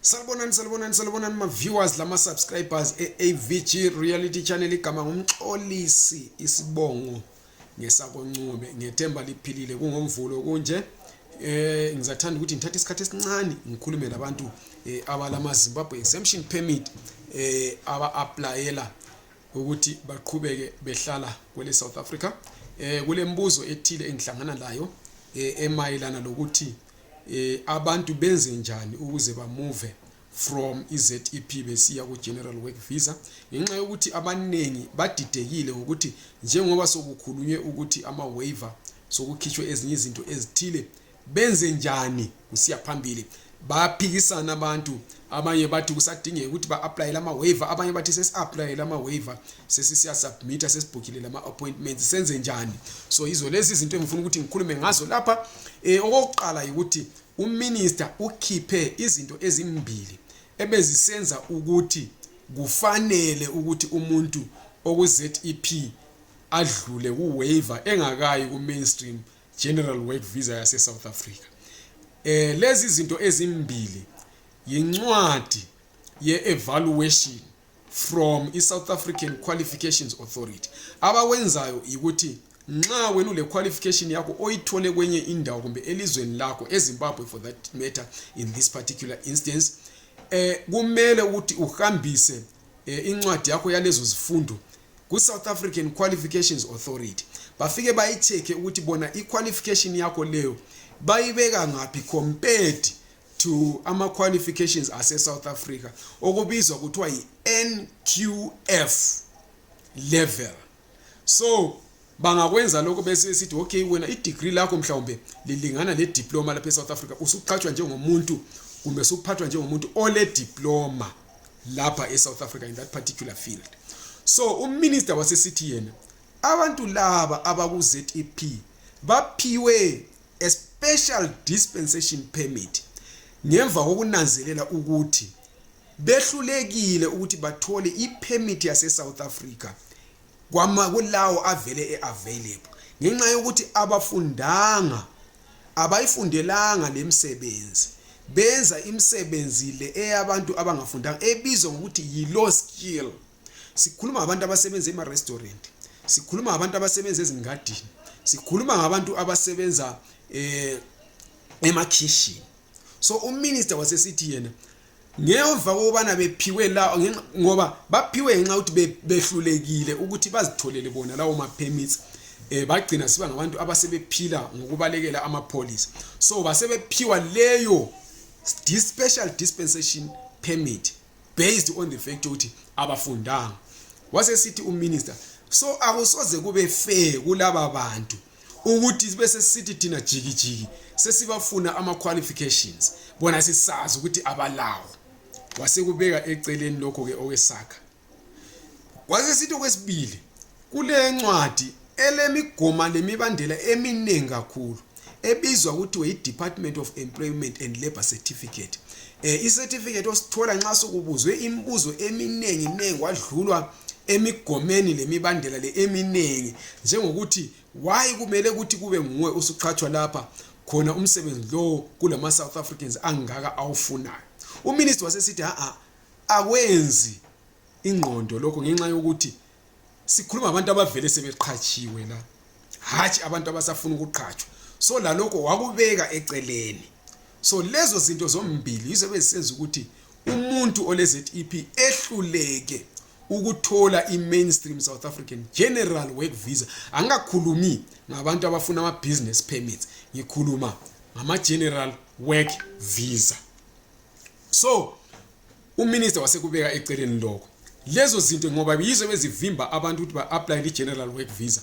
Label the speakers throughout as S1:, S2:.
S1: Salibonani salibonani salibonani ma viewers lama subscribers eAVG Reality Channel igama ngumxolisi isibongo ngesakoncube ngethemba liphilile kungomvulo kunje eh ngizathanda ukuthi ngithathe isikhathi esincane ngikhulume labantu eh, abalama Zimbabwe exemption permit eh aba applyela ukuthi baqhubeke behlala kwele South Africa eh kulembuzo ethile engihlangana layo eh emayelana lokuthi eh, abantu benze njani ukuze bamuve from izep besiya ku-general work visa ngenxa yokuthi abaningi badidekile ngokuthi njengoba sokukhulunywe ukuthi ama-waver sokukhitshwe ezinye izinto ezithile benze njani kusiya phambili bayaphikisana abantu abanye bathi kusadingeka ukuthi ba-aplayele ama-waver abanye bathi sesi-aplayele ama-waver sesisiyasubmitha sesibhukile lama-appointments senze njani so yizo lezi izinto engifuna ukuthi ngikhulume ngazo lapha um okokuqala yikuthi uminister ukhiphe izinto ezimbili ebezisenza ukuthi kufanele ukuthi umuntu okuzep adlule kuwaiver engakayi ku-mainstream general work visa yasesouth africa um lezi zinto ezimbili yincwadi ye-evaluation from i-south african qualifications authority abawenzayo yikuthi nxa wena ule-qualification yakho oyithole kwenye indawo kumbe elizweni lakho ezimbabwe for that matter in this particular instance eh kumele ukuthi uhambise eh, incwadi yakho yalezo zifundo ku-south african qualifications authority bafike bayi-check-e ukuthi bona i-qualification yakho leyo bayibeka ngaphi compared to ama qualifications ase South Africa okubizwa kuthiwa yi NQF level so bangakwenza lokho bese sithi okay wena i degree lakho mhlawumbe lilingana ne diploma lapha e South Africa usuqhatshwa njengomuntu kumbe usuphathwa njengomuntu ole diploma lapha e South Africa in that particular field so uminister wasesithi yena abantu laba abaku ZEP baphiwe a special dispensation permit ngemva kokunanzelela ukuthi behlulekile ukuthi bathole ipermit yase-south africa kulawo avele e-available ngenxa yokuthi abafundanga abayifundelanga le msebenzi benza imisebenzi le eyabantu abangafundanga ebizwa ngokuthi yi-low skill sikhuluma ngabantu abasebenza ema-restaurant sikhuluma ngabantu abasebenza ezingadini sikhuluma ngabantu abasebenza um emakhishini so uminister wasesithi yena ngemva kokubana bephiwe la ngoba baphiwe ngenxa ukuthi behlulekile ukuthi bazitholele bona lawo ma-permits eh bagcina siba ngabantu abasebephila ngokubalekela amapholisa so basebephiwa leyo special dispensation permit based on the fact ukuthi abafundanga wasesithi uminister so akusoze kube fair kulaba bantu ukuthi bese sithi thina jikijiki sesibafuna ama qualifications bona sisazi ukuthi abalawo wasekubeka eceleni lokho ke okwesakha wasesithi okwesibili Kule ncwadi elemigoma lemibandela eminengi kakhulu ebizwa kuthiwe yi-department of employment and labour certificate um eh, i-certificate osithola nxa sokubuzwe imibuzo eminengi nengi kwadlulwa emigomeni lemibandela le eminengi njengokuthi wayi kumele ukuthi kube nguwe usuqhatshwa lapha khona umsebenzi lowo kulama-south africans angaka awufunayo uminister wasesithi ha-a akwenzi ingqondo lokho ngenxa yokuthi sikhuluma abantu abavele sebeqhatshiwe la hatshi abantu abasafuna ukuqhatshwa so lalokho wakubeka eceleni so lezo zinto zombili yizo ebezisenza ukuthi umuntu ole-zep ehluleke ukuthola i-mainstream south african general work visa angikakhulumi ngabantu abafuna ama-business permits ngikhuluma ngama-general work visa so uminista wasekubeka eceleni lokho lezo zinto ngoba yizo bezivimba abantu ukuthi ba-aplayele i-general work visa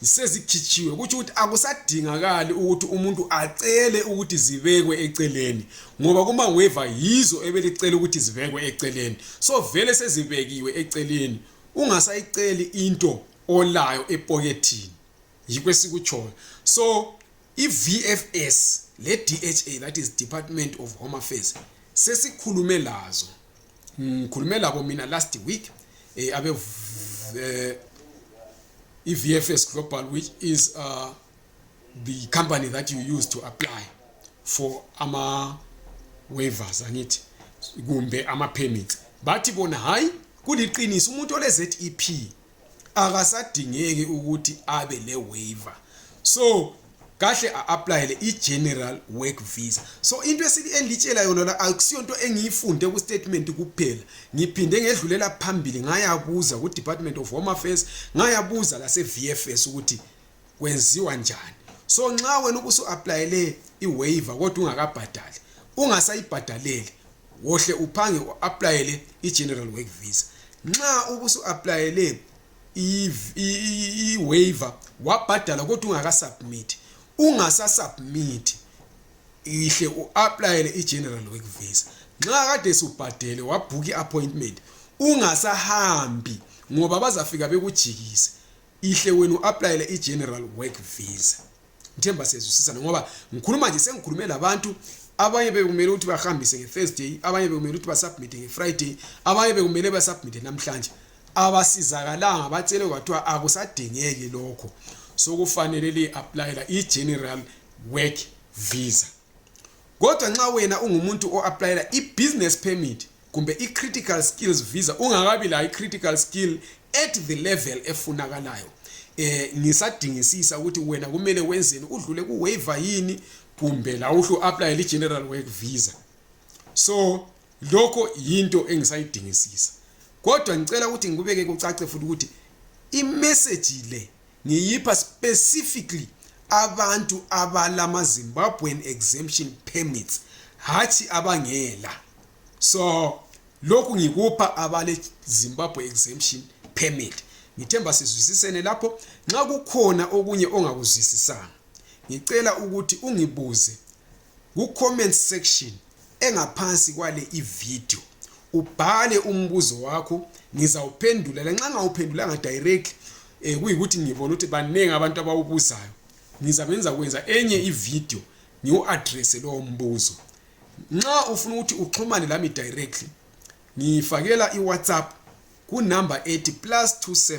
S1: sezikhitshiwe kutsho ukuthi akusadingakali ukuthi umuntu acele ukuthi zibekwe eceleni ngoba kumaweva yizo ebelicela ukuthi zibekwe eceleni so vele sezibekiwe eceleni ungasayiceli into olayo epokethini yikho esikutshoyo so I-VFS le-DHA that is Department of Home Affairs sesikhulume lazo ngikhulume labo mina last week eh, abe eh, i-VFS Global which is uh, the company that you use to apply for ama waivers angithi kumbe ama permits bathi bona hayi kuliqiniso umuntu ole ZEP akasadingeki ukuthi abe le waiver so kahle a-aplayele i-general work visa so into engitshela yona la akusiyo nto engiyifunde ku-statement kuphela ngiphinde ngedlulela phambili ngayabuza ku-department of home affairs ngayabuza lase-v f s ukuthi kwenziwa njani so nxa wena ubusu-aplayele i-waiver kodwa ungakabhadali ungasayibhadaleli wohle uphange uapplyele igeneral work visa nxa ubusu applyele iwaiver wabhadala kodwa ungakasubmit ungasasubmit ihle uapplyele igeneral work visa nxa kade subhadele wabhuka iappointment ungasahambi ngoba bazafika bekujikise ihle wena uapplyele igeneral work visa Ngithemba sezwisisana ngoba ngikhuluma nje sengikhulume labantu abanye bekumele ukuthi bahambise ngeThursday, abanye bekumele ukuthi basubmit ngeFriday, abanye bekumele basubmit namhlanje. Abasizakalanga batshele kwathiwa akusadingeki lokho. Sokufanele li applyela iGeneral Work Visa. Kodwa nxa wena ungumuntu o-aplayela i-business permit kumbe i-critical skills visa ungakabi layo i-critical skill at the level efunakalayo eh ngisadingisisa ukuthi wena kumele wenzeni udlule ku waiver yini kumbe la uhlu apply li general work visa so lokho yinto engisayidingisisa kodwa ngicela ukuthi ngikubeke kucace futhi ukuthi imessage le ngiyipha specifically abantu abalama Zimbabwean exemption permits hathi abangela so lokhu ngikupha abale Zimbabwe exemption permit ngithemba sizwisisene lapho nxa kukhona okunye ongakuzwisisanga ngicela ukuthi ungibuze ku comment section engaphansi kwale ivideo ubhale umbuzo wakho ngizawuphendula lanxa ngawuphendulanga directly eh kuyikuthi ngibona ukuthi baningi abantu abawubuzayo ngizabe ngiza kwenza enye ivideo ngiwu-addresse lowo mbuzo nxa ufuna ukuthi uxhumane lami directly ngifakela i-whatsapp kunumber ethi plus 27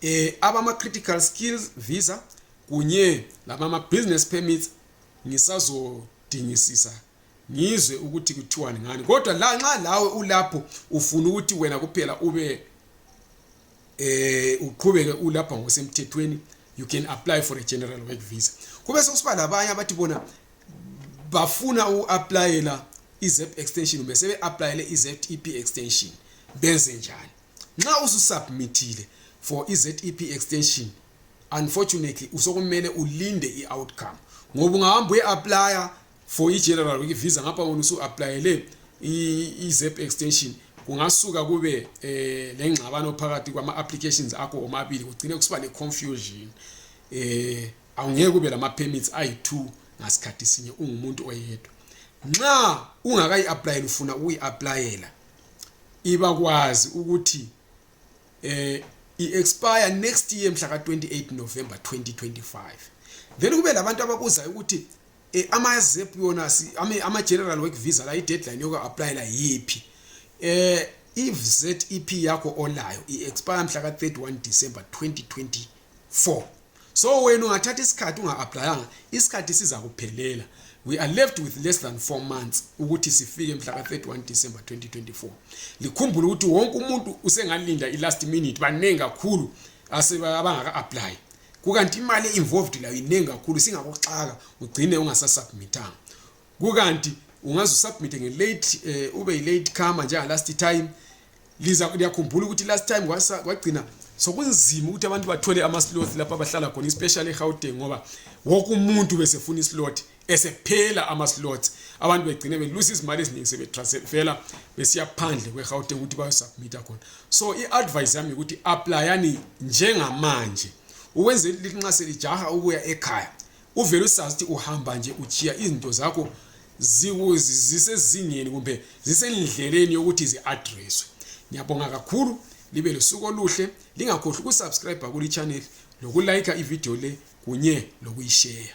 S1: eh abama critical skills visa kunye labama business permits ngisazodingisisa ngizwe ukuthi kuthiwani ngani kodwa la nxa lawe ulapho ufuna ukuthi wena kuphela ube eh uqhubeke ulapha ngosemthethweni you can apply for a general work visa kube sokusiba labanye abathi bona bafuna uku-aplayela i-zep extension kumbe sebe-aplayele i-zep extension benze njani Nxa ususubmithile for iZEP extension unfortunately usokumele ulinde i-outcome ngoba ungahamba uye-aplya for i-general week visa ngapha wona usu-aplayele i-zep extension kungasuka kube eh lengxabano phakathi kwama applications akho omabili kugcine kusiba ne confusion eh awungeke kube lama permits ayi2 ngasikhathi sinye ungumuntu oyedwa nxa ungakayi apply ufuna ukuyi applyela ibakwazi ukuthi eh i-expire next year mhla ka-28 november 2025 then kube labantu ababuzayo ukuthi eh, ama-zep yona ama-general work visa la i-deadline yoku-aplayela yiphi eh i-zep yakho olayo i-expire mhla ka-31 december 2024 so wena ungathatha isikhathi unga-aplayanga isikhathi sizakuphelela we are left with less than four months ukuthi sifike mhla ka-31 december 2024 likhumbule ukuthi wonke umuntu usengalinda i-last minute baningi kakhulu abangaka-aplayi kukanti imali e-involved layo iningi kakhulu singakuxaka ugcine ungasasubmithanga kukanti ungaze usubmit nge late eh, ube yi late comer njenga last time liza liyakhumbula ukuthi last time kwagcina sokunzima ukuthi abantu bathole ama slots lapha abahlala khona especially eGauteng ngoba wonke umuntu besefuna islot esephela ama slots abantu begcine belusa izimali eziningi sebetransfera besiya phandle kweGauteng ukuthi bayosubmit khona so iadvice yami ukuthi applyani njengamanje ukwenzela ukuthi nxa selijaha ukuya ekhaya uvele usazi ukuthi uhamba nje ujiya izinto zakho zisezingeni kumbe zisendleleni yokuthi zi-adreswe ngiyabonga kakhulu libe lusuku oluhle lingakhohlwa ukusubscribe kuli channel lokulayikha ividiyo le kunye lokuyisheya